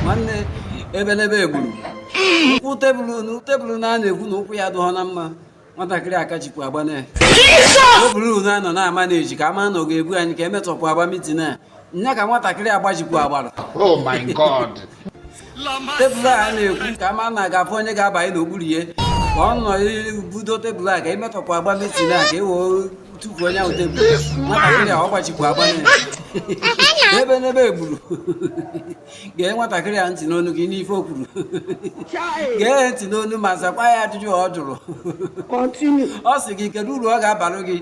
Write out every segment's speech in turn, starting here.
nwanne ebenebe egburu ụkwụ tebụl na tebụl na a na-ekwu na ụkwụ ya adịghọ na mma nwatakịrị akajikwa agba na tebụl nụ a nọ na-ama na eji ka ama na ọ ga-ebu anyị ka emetọpụ agba mitin a nya ka nwatakịrị agbajikwa agbara Oh my God. tebụl a na-ekwu ka ama na a ga-afụ onye ga-abanye n'okpuru ya ka ọ nọ budo tebụl a ka emetọpụ agba mitin a ka e wee tupu onye ahụ tebụl nwatakịrị a ọ gbajikwa agba na ebenebe egburu gee nwatakịrị a ntị n'ọnụ gị n'ife o kwuru gee ntị n'ọnụ ma zakwa ya ajụjụ ọ jụrụ ọ sị gị kedu uru ọ ga-abalụ gị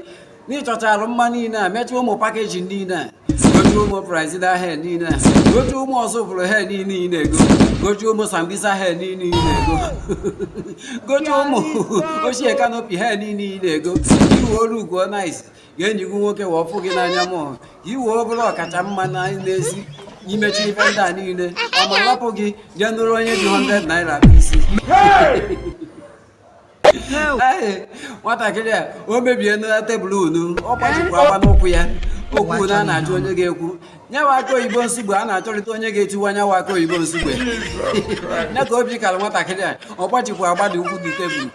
n'ịchọchara mma niile a mechaa ụmụ pakeji niile a gochie ụmụ Brazilian hair niile a gochie ụmụ Ọzụbụlụ hair niile ị na-ego gochie ụmụ Sambisa hair niile ị na-ego gochie ụmụ ochie kanopi hair niile ị na-ego i wee lukuo nice ka enyi gị nwoke wee fụ gị n'anya mọọ i wee bụrụ ọkacha mma na n'ezi i mechie ife ndị a niile ọ ma lapụ gị jee nụrụ onye ji 100 naira akpụ isi nwatakịrị a emebiena tebụl nụ ọ gbajikwa agba n'ụkwụ ya okwu nụ a na-achọ onye ga-ekwu nyawa akụ oyibo nsugbe a na-achọrịta onye ga-etiwa nyawa akụ oyibo nsugbe nya ka obi kara nwatakịrị a ọ gbajikwa agba dị ụkwụ dị tebụl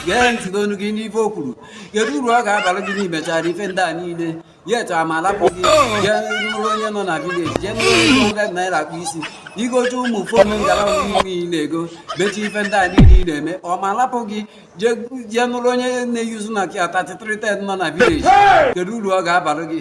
gee ntị n'ọnụ gị n'ife o kwuru kedu uru ọ ga-abalụ gị n'imechara ife ndị a niile yet ọ ma lapụ gị jee nụrụ onye nọ na vileji jee nụrụ onye 100 naira akpụ isi igote ụmụ fon ngara niile ị na-ego mechie ife ndị a niile ị na-eme ọ ma lapụ gị jee jee nụrụ onye na-eyuzu Nokia 3310 nọ na vileji kedu uru ọ ga-abalụ gị